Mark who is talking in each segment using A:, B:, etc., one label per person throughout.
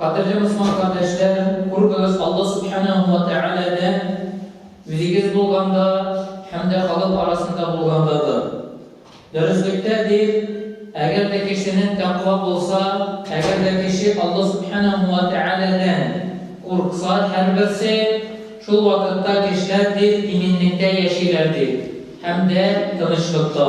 A: Кадерле мусман кардәшләрем, куркыгыз Алла Субханәһу ва Тәгаләдән, үзегез булганда һәм дә халык арасында булганда да. Дөреслектә дип, әгәр дә кешенең тәкъва булса, әгәр дә кеше Алла Субханәһу ва Тәгаләдән куркса, һәрберсе, шул вакытта кешеләр дип иминлектә яшиләр, дип, һәм дә тынычлыкта.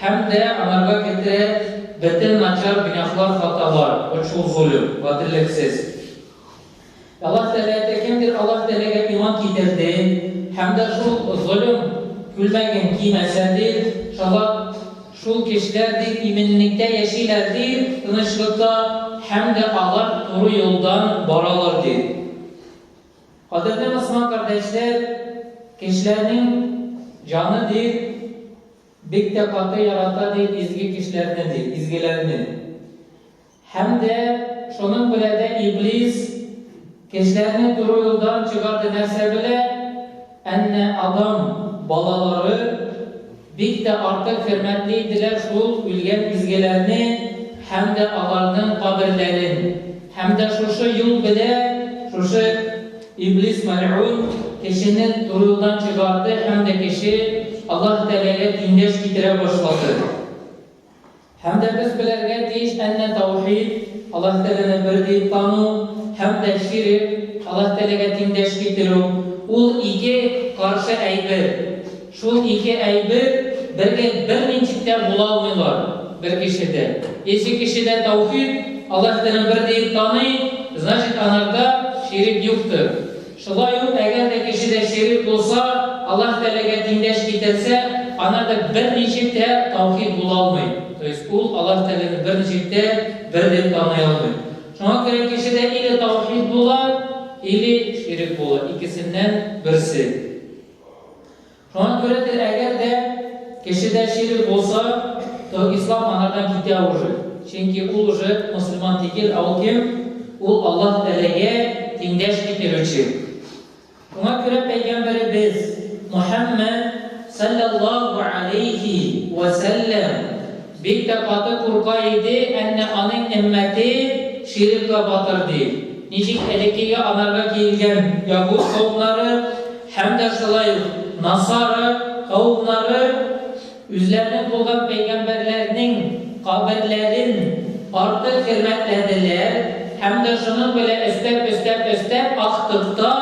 A: Һәм дә анарга кертә бетен начар гөнаһлар хаталар, очу зулем, гаделлексез. Аллаһ Тәләте кемдер Аллаһ Тәләгә иман китерде һәм дә шул золем күлмәген кимәсә, ди, шала шул кешеләр, ди, иминлектә яшиләр, ди, тынычлыкта, һәм дә алар туры юлдан баралар, ди. Кадерле мөселман кардәшләр, кешеләрнең җаны, ди, Бик тә каты ярата, ди, изге кешеләрне, ди, изгеләрне. Һәм дә шуның белә дә Иблис кешеләрне туры юлдан чыгарды, нәрсә белә? Әннә Адам балалары бик тә артык хөрмәтле иделәр шул үлгән изгеләрне һәм дә аларның каберләрен. Һәм дә шушы юл белә, шушы Иблис мәлгун кешене турыдан чыгарды һәм дә кеше Аллаһ Тәгаләгә тиңдәш китерә башлады. Һәм дә без беләргә тиеш, әннә таухид, Аллаһ Тәгаләне бер дип тану, һәм дә ширек, Аллаһ Тәгаләгә тиңдәш китерү, ул ике каршы әйбер. Шул ике әйбер бер гел бернинди дә була алмыйлар бер кешедә. Ече кешедә таухид, Аллаһ Тәгаләне бер диеп таный, значит анарда ширек юктыр. Шулай ук әгәр дә кешедә ширек булса, Аллаһ Тәгаләгә тиңдәш китерсә, анарда берничек тә таухид була алмый, то есть ул Аллаһ Тәгаләне берничек тә бер дип таный алмый. Шуңа күрә кешедә или таухид була, или ширек була, икесеннән берсе. Шуңа күрә дә, әгәр дә кешедә ширк булса, то ислам анардан китә уже. Чөнки ул уже мөселман тигел, ә ул кем? Ул Аллаһ Тәгаләгә тиңдәш китерүче. Шуңа күрә пәйгамбәребез Мөхәммәд салләллаһу галәйһи вә сәлләм бик тә каты курка иде, әннә аның өммәте ширкка батыр дип. Ничек элеккеге анарга килгән ягуз каумнары, Һәм дә шулай ук насара кавымнары үзләренең булган пәйгамбәрләрнең каберләрен артык хөрмәтләделәр һәм дә шуның белән өстәп-өстәп-өстәп актыкта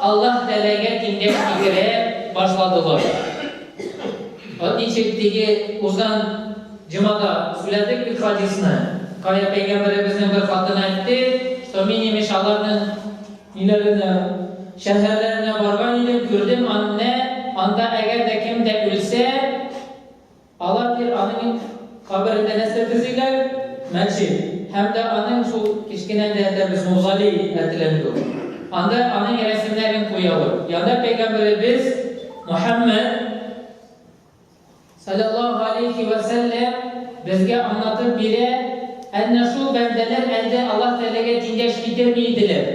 A: Аллаһ Тәгаләгә киңәш китерә башладылар. Вот ничек теге узган җомада сүләдек бит хадисны, кая пәйгамбәребезнең бер хатыны әйтте, что мин имеш аларның, Өйләренә, шәһәрләренә барган идем, күрдем анне, анда әгәр дә кем дә үлсә, алар дир аның каберендә нәрсә төзиләр, мәчет, һәм дә аның шул кечкенә дә әйтәбез музолей әтеләндү, анда аның рәсемнәрен куялар, янда пәйгамбәребез Мөхәммәд, Салләллаһу галәйһи вә сәлләм безгә аңлатып бирә, әнә шул бәндәләр әлдә Аллаһ Тәгаләгә тиңдәш китерми иделәр,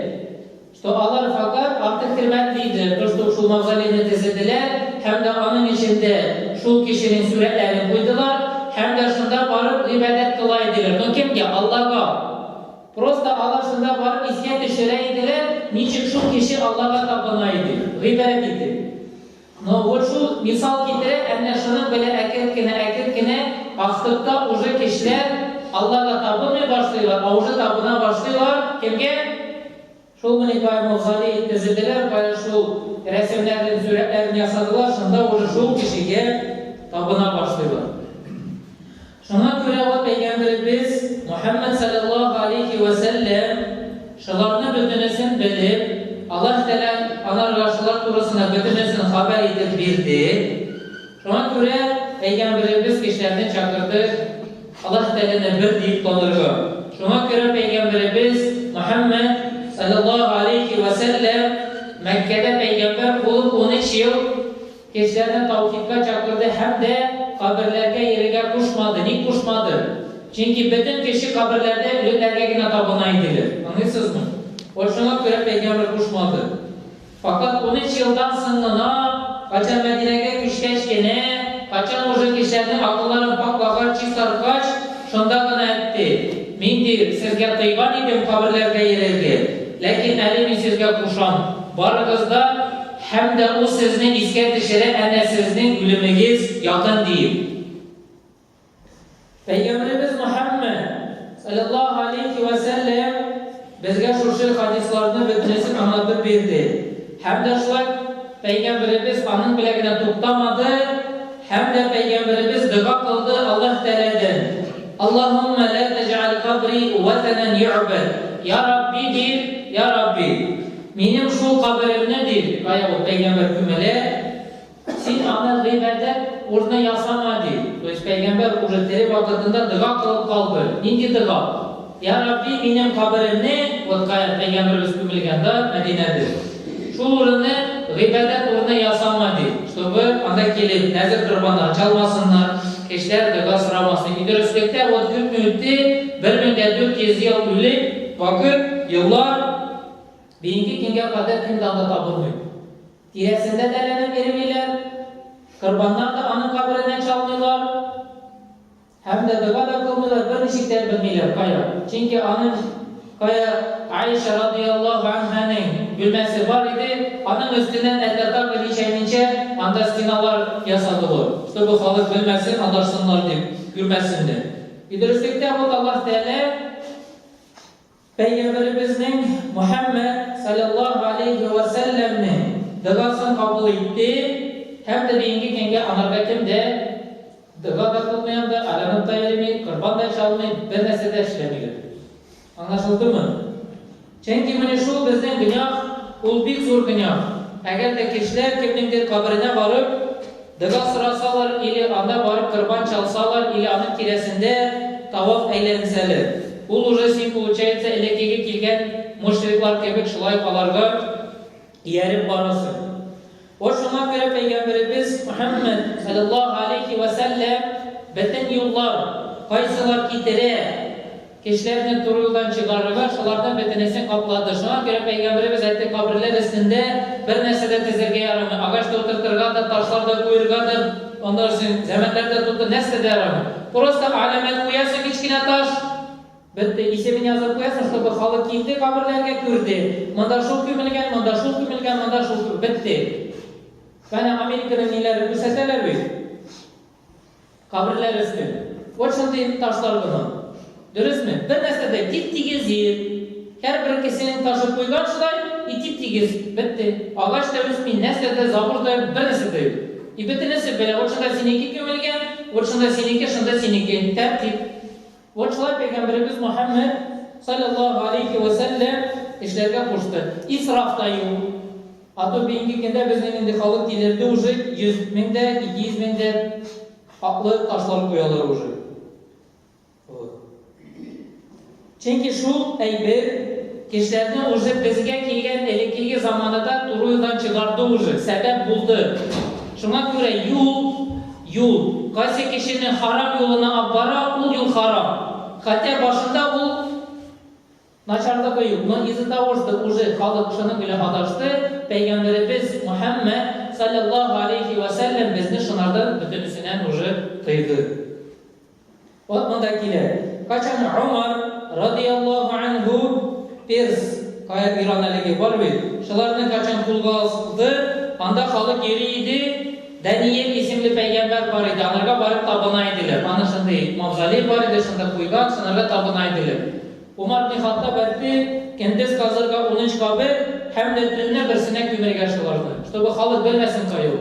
A: что алар фәкать артык хөрмәтле иделәр, то, что шул мавзолейны тезеделәр һәм дә аның эчендә шул кешенең сурәтләрен куйдылар һәм дә шунда барып гыйбадәт кыла иделәр, но кемгә? Аллага! Просто алар шунда барып искә төшерә иделәр, ничек шул кеше Аллага табына иде, гыйбадәт итеп. Но вот шул мисал китерә, әннә шуның белә әкерт кенә, әкерт кенә астыкта уже кешеләр Аллага табынмый башлыйлар, а уже табына башлыйлар, кемгә? Шул мени кая мавзолей төзеделәр, кая шул рәсемнәрен, сурәтләрен ясадылар, шунда уже шул кешегә табына башлыйлар. Шуңа күрә ул Пәйгамбәребез Мөхәммәд салләллаһу алейһи вә сәлләм шуларны бөтенесен белеп, Аллаһ Тәгалә анарга шулар турысында бөтенесен хәбәр итеп бирде. Шуңа күрә Пәйгамбәребез кешеләрне чакырды Аллаһ Тәгаләне бер диеп танырга. Шуңа күрә Пәйгамбәребез Мөхәммәд салләллаһу алейһи вә сәлләм Мәккәдә пәйгамбәр булып унөч ел Кешеләрне таухидка чакырды һәм дә каберләргә йөрергә кушмады. Ник кушмады? Чөнки бөтен кеше каберләрдә үлеләргә генә табына иделәр. Аңлыйсызмы? Вот шуңа күрә пәйгамбәр кушмады. Факат унөч елдан соң гына, кайчан Мәдинәгә күчкәч кенә, кайчан уже кешеләрнең акылларын паклагач, чистарткач, шунда гына әйтте, Мин, ди, сезгә тыйган идем каберләргә йөрергә, ләкин әле мин сезгә кушам, барыгыз да, Һәм дә ул сезне искә төшерә, әнә сезнең үлемегез якын, диеп. Пәйгамбәребез Мөхәммәд, салләллаһу галәйһи вә сәлләм, безгә шушы хадисларның бөтенесен аңлатып бирде. Һәм дә шулай Пәйгамбәребез аның белән генә туктамады, һәм дә Пәйгамбәребез дога кылды Аллаһ Тәгаләдән, Аллаһуммә лә тәҗәаль кабри вәтәнән йө'бәд, Я Рабби, дип, Я Рабби! Минем шул каберемне, ди, баягы пәйгамбәр күмәлә, син аны гыйбадәт урыны ясама, ди. То есть пәйгамбәр уже тере вакытында дога кылып калды. Нинди дога? Я Рабби, минем каберемне, вот кая пәйгамбәребез күмелгән, да, Мәдинәдә, шул урыны гыйбадәт урыны ясама, ди, чтобы анда килеп нәзер корбаннары чалмасыннар, кешеләр дога сорамасын. И дөреслеккә, вот күпме үтте, 1400 ел үлеп, вакыт, еллар. Бинди көнгә кадәр көн дә анда табылмый. Тирәсендә дә ләнәк эремиләр, корбаннар да аның кабереннән чалмыйлар һәм дә дога да кылмыйлар, берничек тә белмиләр, кая. Чөнки аның кая Аиша радыйаллаһу анһаның бүлмәсе бар иде, аның өстеннән әтатар дип ничәминчә анда стеналар ясадылар, чтобы халык белмәсен, адарсыннар дип, күрмәсеннәр. И дөреслектә бу Аллаһ Тәгалә Пәйгамбәребезнең, Мөхәммәд салләллаһу галәйһи вә сәлләмнең, догасын кабул итте һәм дә бигенге көнгә анарга кем дә дога да кылмый анда, алянып та йөрми, корбан да чалмый, бер нәрсә дә эшләми йөри. Аңлашылдымы? Чөнки менә шул безнең гөнаһ, ул бик зур гөнаһ. Әгәр дә кешеләр кемнеңдер каберенә барып, Дога сорасалар или анда барып корбан чалсалар или аның тирәсендә таваф әйләнсәле, ул уже син получается элеккеге килгән мошриклар кебек шулай аларга ияреп барасың. Вот шуңа күрә пәйгамберебез Мөхәммәд, салләллаһу алейхи вә сәлләм, бетен юллар, кайсылар китерә, Кешеләрне туры юлдан чыгарырга шулардан бөтенесен каплады. Шуңа күрә пәйгамбәребез әйтте, каберләр өстендә бер нәрсә дә тезергә ярамый, агач та утыртырга да, ташлар да куерга да, аннан соң зәмәннәр дә тотып, нәрсә дә ярамый. Просто аләмәт куясың, кечкенә таш. Бетте, исемен язып куясың, чтобы халык килде каберләргә, күрде, монда шул күмелгән, монда шул күмелгән, монда шул күмелгән. Бетте. Менә Американың ниләрен күрсәтәләр бит. Каберләр өстен. Вот шундый ташлар булган. Дөресме? Бер нәрсә дә тип-тигез җир. Һәрбер кешенең ташы куйган шулай, и тип-тигез, бетте. Агач та үсми, нәрсә дә, забор да юк, бер нәрсә дә юк. И бөтенесе бер, вот шунда синеке күмелгән, вот шунда синеке, шунда синеке. Тәртип. Ул шулай пәйгамбәребез Мөхәммәд, салләллаһу галәйһи вә сәлләм, эшләргә кушты. Исраф та юк. А то бүгенге көндә безнең инде халык тилерде уже, 100 мең дә, 200 мең дә аклы ташлар куялар уже. Вот. Чөнки шул әйбер кешеләрне уже безгә килгән элеккеге заманада туруйдан чыгарды уже, сәбәп булды. Шуңа күрә юл, Юл. Кайсы кешене харам юлына ап бара, ул юл харам. Хәтя башында ул начарлыгы юк, но из-за того, что уже халык шуның белән адашты, Пәйгамбәребез Мөхәммәд, салләллаһу алейһи вә сәлләм, безне шунардан бөтенесенән уже тыйды. Катма да килә. Качан Омар, радиаллаһу анһу, Перс, Каир, Иран әлеге бар бит, шуларны качан кулга алды, анда халык йөри иде, Даниэль исемле пәйгамбәр бар иде, аларга барып табына иделәр. Аның шундый мавзолей бар иде, шунда куйган, шунарга табына иделәр. Умар ибне Хаттаб әйтте, Көндез казырга унөч кабер һәм дә төнлә берсенә күмәргә шуларны, чтобы халык белмәсен кай ул.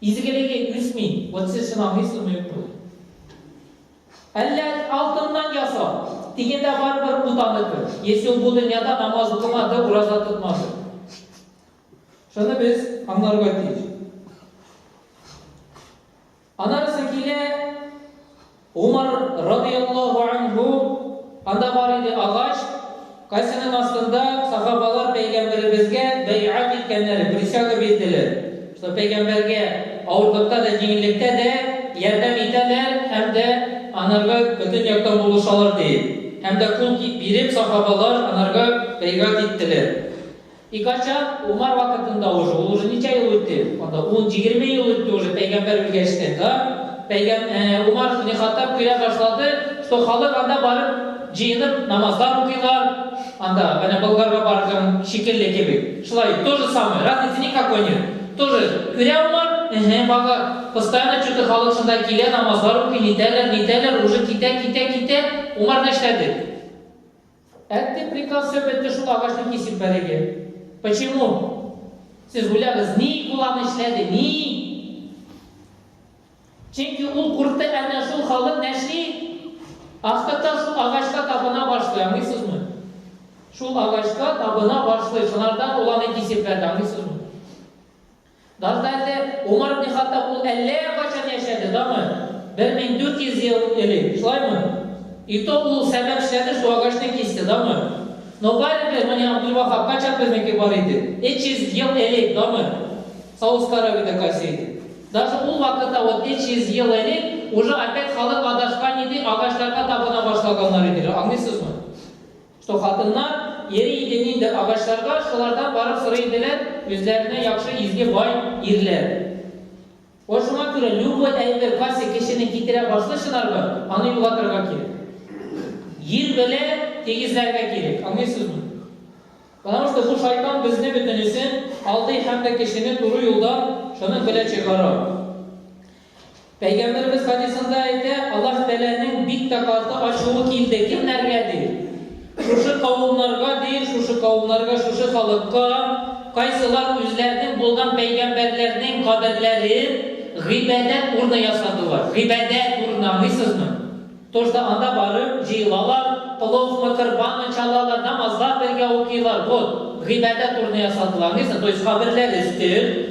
A: Изгелеге үзми, вот все сынавны сынмый ук була. Әллә алтыннан ясау, дигәндә барыбер путаныкы. Если ул бу дөньяда намаз укымады, ураза тотмады. Шуны без аңларга тиеш. Анарысы килә Умар, радыяллаһу анһу, анда бар иде, агач кайсының астында сахабалар Пәйгамбәребезгә бәйгать иткәннәр, присяга бирделәр, что Пәйгамбәргә авырлыкта да, җиңеллектә дә ярдәм итәләр һәм дә анарга бөтен яктан булышалар диеп. Һәм дә кул биреп сахабалар анарга бәйгать иттеләр. И качан? Умар вакытында уже, ул уже ничә ел үтте? Анда ун, егерме ел үтте уже пәйгамбәр үлгәчтен, да? Пәйгам, ә, Умар ибне Хаттаб көлә башлады, что халык анда барып җыенып намазлар укыйлар, анда, менә Болгарга барган шикелле кебек, шулай, то же самое, разницы никакой нет. То же, күрә Умар, эһе, бага, постоянно чё-то халык шунда килә, намазлар укый, нитәләр, нитәләр, уже китә, китә, китә, Умар нәрсәдер. Әтте приказ сөп этте шул агачны кисеп бәреге. Почему? Сез уйлагыз, ник ул аны эшләде, ник? Чөнки ул курыкты әнә шул халык нәши астыртан шул агачка табына башлый, аңлыйсызмы? Шул агачка табына башлый, шунардан ул аны кисеп бәрде, аңлыйсызмы? Багдадта Умар ибн Хаттаб ул әллә кайчан яшәде, даны, бер мең дүрт йөз ел элек, шулаймы? И то ул сәбәп эшләде, шул агачны кисте, даны. Нобаль ибн Мани Абдул-Ваһаб кайчан безнеке бар иде? Өч йөз ел элек, даны. Саудская Аравиядә кайсы иде? Даже ул вакытта вот өч йөз ел элек уже опять халык адашкан иде, агачларга табына башлаганнар иделәр, аңлыйсызмы? Что хатыннар йөри иде нинди агачларга, шулардан барып сорый иделәр, үзләренә яхшы изге бай ирләр. Вот шуңа күрә любой әйбер касе кешене китерә башлый шынарга, аны югатырга кирәк. Ир белә тигезләргә кирәк, аңлыйсызмы? Потому что бу шайтан безне бөтенесен алдый һәм дә кешене туры юлдан шуның белә чыгара. Пәйгамбәребез хадисында әйтә, Аллаһ Тәгаләнең бик тә каты ачуы килде. Кемнәргә ди? Шушы кавымнарга ди, шушы кавымнарга, шушы халыкка, кайсылар үзләренең булган пәйгамбәрләрнең каберләрен гыйбадәт урыны ясадылар. Гыйбадәт урыны, аңлыйсызмы? То, что анда барып җыелалар, пловмы, корбанмы чалалар, намазлар бергә укыйлар. Вот, гыйбадәт урыны ясадылар. Аңлыйсызмы? То есть каберләр өстен.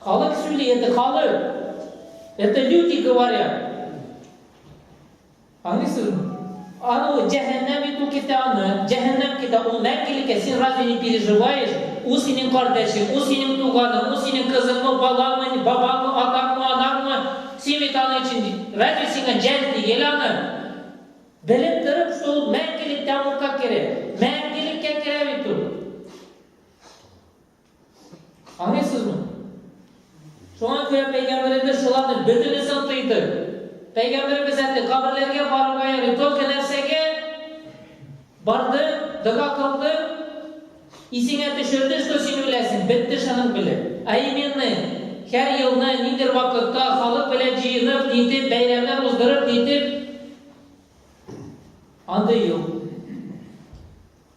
A: Халык сөйли, это халык. Это люди говорят. Аңлыйсызмы? Аны җәһәннәм бит ул китә аны. Җәһәннәм китә ул мәңгелеккә. Син разве не переживаешь? Ул синең кардәшең, ул синең туганың, ул синең кызыңмы, балаңмы, бабаңмы, атаңмы, анаңмы? Син бит аны өчен разве сиңа җәл тигел аны? Белеп торып шул мәңгелек тәмугка керә. Мәңгелеккә керә бит ул. Аңлыйсызмы? Шуңа күрә пәйгамбәребез шуларны бөтенесен тыйды. Пәйгамбәребез әйтте, каберләргә барырга ярый, только нәрсәгә барды, дога кылды, исеңә төшерде, что син үләсең, бетте шуның белән. А именно, һәр елны ниндер вакытта халык белән җыенып, нитеп, бәйрәмнәр уздырып, нитеп, андый юк.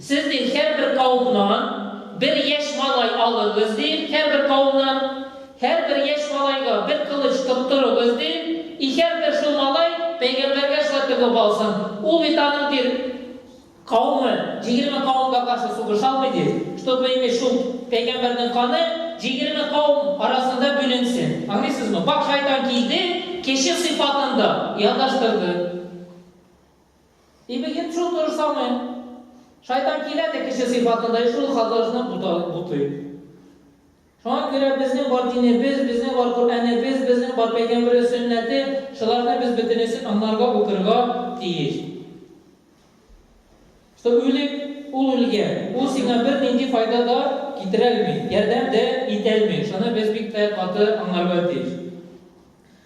A: Сезнең һәрбер каумнан бер яшь малай алыгыз, ди, һәрбер каумнан, һәрбер яшь малайга бер кылыч тоттырыгыз, ди, и һәрбер шул малай пәйгамбәргә шулай тыгып алсын, ул бит аның, ди, каумы җигерме каумга каршы сугыша алмый, ди, чтобы инде шул пәйгамбәрнең каны җигерме каум арасында бүленсен. Аңлыйсызмы? Бак, шайтан килде, кеше сыйфатында ялдаштырды. И бегет шул то же самое. Шайтан килә дә кеше сыйфатында и шул хатасына бутый. Шуңа күрә безнең бар динебез, безнең бар Коръәнебез, безнең бар пәйгамбәр сөннәте, шуларны без бөтенесен анларга укырга тиеш. Что үлек ул үлгән, ул сиңа бер нинди файда да китерә алмый, ярдәм дә итә алмый. Шуны без бик тә каты аңларга тиеш.